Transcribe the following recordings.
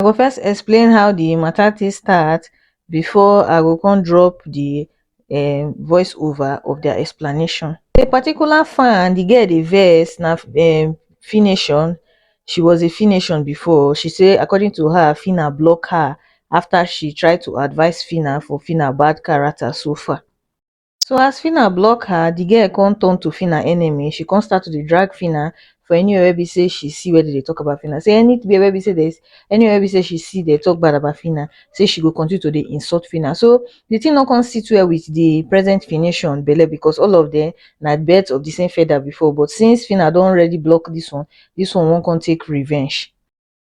i go first explain how the matter take start before i go come drop the um voice over of their explanation. A particular fan, the girl dey vex na um fination she was a fination before she say according to her phyna block her after she try to advice phyna for phyna bad character so far. so as phyna block her the girl come turn to phyna enemy she come start to dey drag phyna for anywhere wey be say she see where dem dey talk about phyna say anywhere wey be say there's anywhere wey be say she see they talk bad about phyna say she go continue to dey insult phyna so the thing no come sit well with the present fination belle because all of them na birds of the same feather before but since phyna don already block this one this one wan come take revenge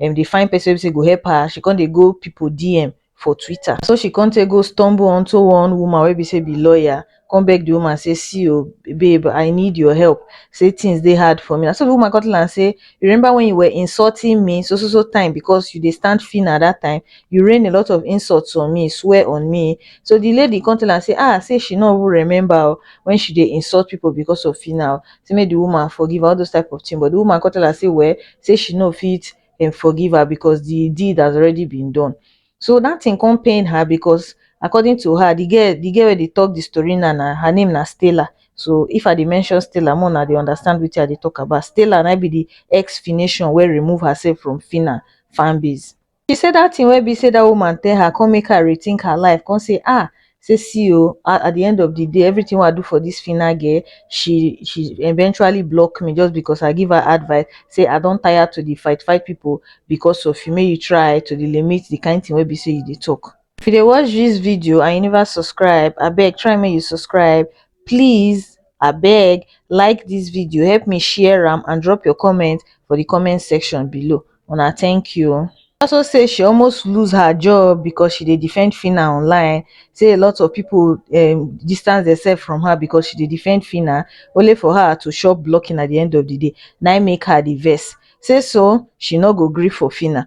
um dey find person wey be sey go help her, she con dey go pipu DM for Twitter. Na so she con take go stumble unto one woman wey be sey be lawyer, con beg the woman sey see o, babe I need your help, sey things dey hard for me. Na so the woman con tell am sey, you remember when you were insulting me so so so time because you dey stand Phyna that time, you rain a lot of insults on me, swear on me. So the lady con tell am sey ah, sey she no even remember o, when she dey insult pipu because of Phyna o, sey make the woman forgive am, all those type of thing. But the woman con tell am sey well, say she no fit um forgive her because the deed has already been done so that thing come pain her because according to her the girl the girl wey dey talk the story now na her name na Stella so if I dey mention Stella make una dey understand wetin I dey talk about Stella na im be the ex Fination wey remove herself from Phyna fanbase she say that thing wey be say that woman tell her come make her rethink her life come say ah say see oo at the end of the day everything wey i do for this Phyna girl she she eventually block me just because i give her advice say i don tire to dey fight fight people because of you make you try to dey limit the kind thing wey be say you dey talk if you dey watch this video and you never subscribe abeg try make you subscribe please abeg like this video help me share am and drop your comment for the comment section below una thank you o also say she almost lose her job because she dey defend phyna online say a lot of people um distance demsef from her because she dey defend phyna only for her to chop blocking at the end of the day na im make her dey vex say so she no go gree for phyna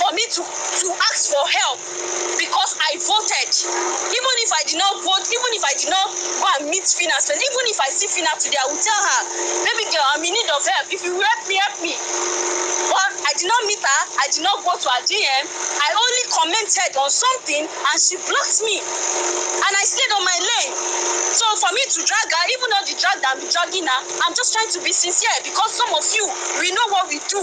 for me to to ask for help because I voted. Even if I did not vote, even if I did not go and meet Fina, and even if I see Fina today, I will tell her, baby girl, I'm in need of help. If you help me, help me. But I did not meet her, I did not go to her DM. I only commented on something and she blocked me. And I stayed on my lane. So for me to drag her, even though the drag that I'm dragging her, I'm just trying to be sincere because some of you, we know what we do.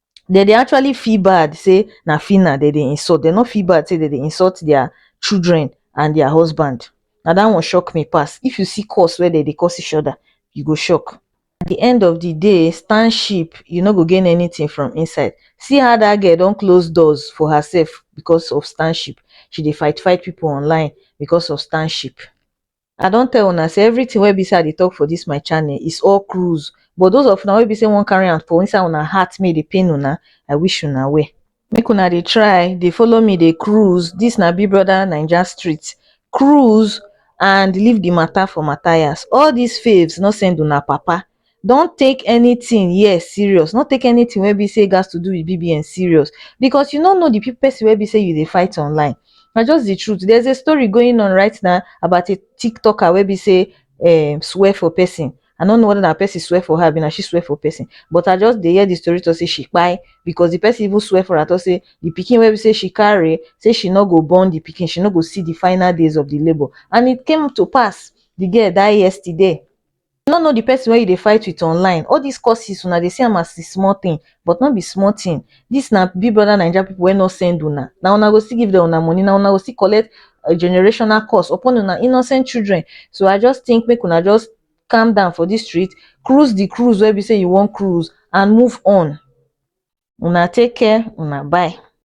dem dey actually feel bad say na phyna dem dey insult dem no feel bad say dem dey insult their children and their husband na that one shock me pass if you see curse wey dem dey curse each other you go shock at the end of the day stand sheep you no go gain anything from inside see how that girl don close doors for herself because of stand sheep she dey fight fight people online because of stand sheep I don tell una say everything wey be say I dey talk for this my channel is all cruise but those of una wey be say wan carry am for inside una heart make e dey pain una I wish una well. Make una dey try dey follow me dey cruise this na big brother naija street cruise and leave the matter for Matthias all these faves no send una papa don take anything here serious, no take anything wey be sey gas to do with BBN serious because you no know the person wey be sey you dey fight online. Na just the truth. There's a story going on right now about a tiktoker wey be sey um swear for person. I no know whether na person swear for her abi na she swear for person but I just dey hear the story talk sey she kpai because the person even swear for her talk sey the pikin wey be sey she carry, sey she no go born the pikin. She no go see the final days of the labour and it came to pass. The girl die yesterday. you no know the person wey you dey fight with online all this curses una dey see am as small thing but no be small thing this na big brother naija people wey no send una na una go still give them una money na una go still collect a generational curse upon una innocent children so i just think make una just calm down for this street cruise the cruise wey be say you wan cruise and move on una take care una bye.